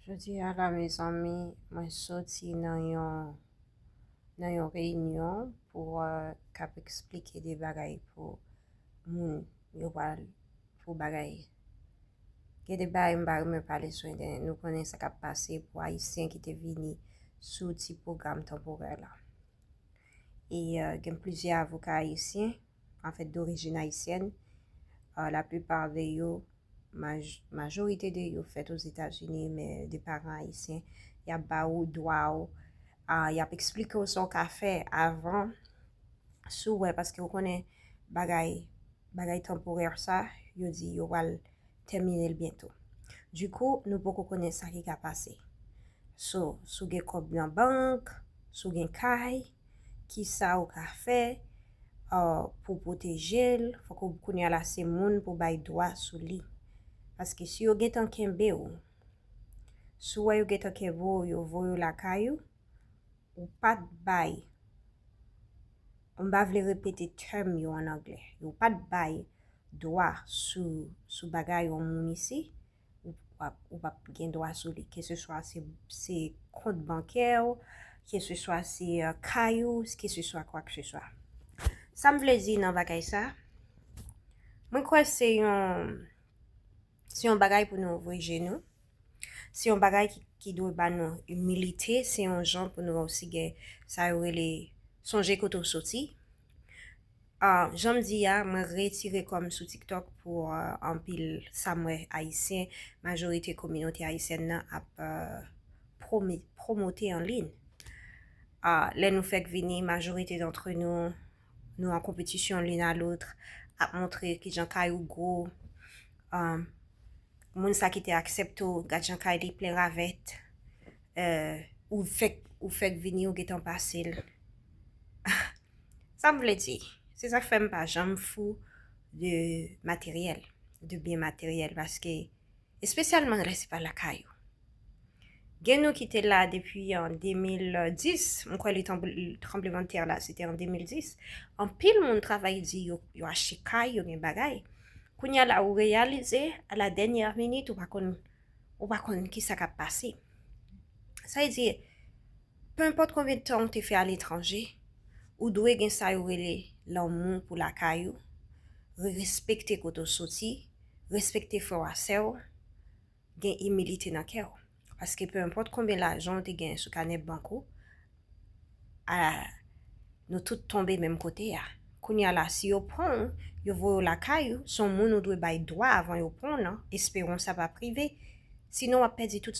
Jodi a la mezanmi mwen soti nan yon nan yon reyinyon pou k ap eksplike de bagay pou moun yo pral pou bagay. Gen de bagay m pa renmen pale sou entènèt nou konnen sa k ap pase pou ayisyen ki te vini sou ti pwogram tanporè la. E gen plizyè avoka ayisyen. an fèt dorijin ayisyèn, la plupart de yo, majorite de yo fèt ozetazini men de paran ayisyen, y ap ba ou dwa ou, y ap eksplike ou sa w ka fè avan si w wè paske ou konnen bagay bagay tanporè sa yo di yo pral tèmine l byento. Dikou nou poko konnen sa ki ka pase. So si w gen kòb nan bank, si w gen kay, Kisa ou ka fè pou pwoteje l? Fòk ou kounye a la se moun pou bay dwa sou li. Paske si yo gentan kenbe ou, si w wè yo gentan kenbe ou, yo voye w lakay ou, ou pa t bay, m pa vle repete term yo an anglè, yo pa t bay dwa sou bagay yon moun isi, ou pap gen dwa sou li. Keseswa se kont bankè ou, keseswa se kay ou, keseswa kwa ke seswa. Sa m vle di nan bagay sa, mwen kwè se yon, se yon bagay pou nou ouvri je nou, se yon bagay ki dwe ba nou imilite, se yon jan pou nou osi gen sa yo rele sonje kote ou soti. Ahh janm di a mwen retire kòm sou tiktok pou anpil sam wè ayisyen majorite kominote ayisyèn nan ap promote an liyn ahh lè nou fèk vini majorite dantre nou nou an konpetisyon lin a lotr ap montre kijan kay ou gwo ahh moun sa ki te aksepte w gad jan kay li plen ravèt. Eh ou fek ou fek vini ou gentan pasel ah sam vle di se sak fem pa janm fou de materyèl de byen materyèl paske espesyalman lè se pa lakay ou gen nou ki te la depi an 2010 m kwè letan tranblemanntè la se te an 2010 anpil moun travay di yo yo achte kay yo gen bagay kounya la ou reyalize a la dènyè minit ou pa konn ou pa konn kisa kap pase. Sa vle di, penpòt konbyen tan ou te fè aletranje, ou dwe gen sa yo rele lanmou pou lakay ou, respekte kote ou soti, respekte frè w ak sè w, gen imilite nan kè w. Paske penpòt konbyen lajan ou te genyen sou kanè bank ou, a nou tout tonbe menm kote a. Kounye a la, si yo pran w, yo voye w lakay ou, se yon moun ou dwe bay dwa avan yo pran w lan, esperon sa p ap rive, sinon w ap pèdi tout sa.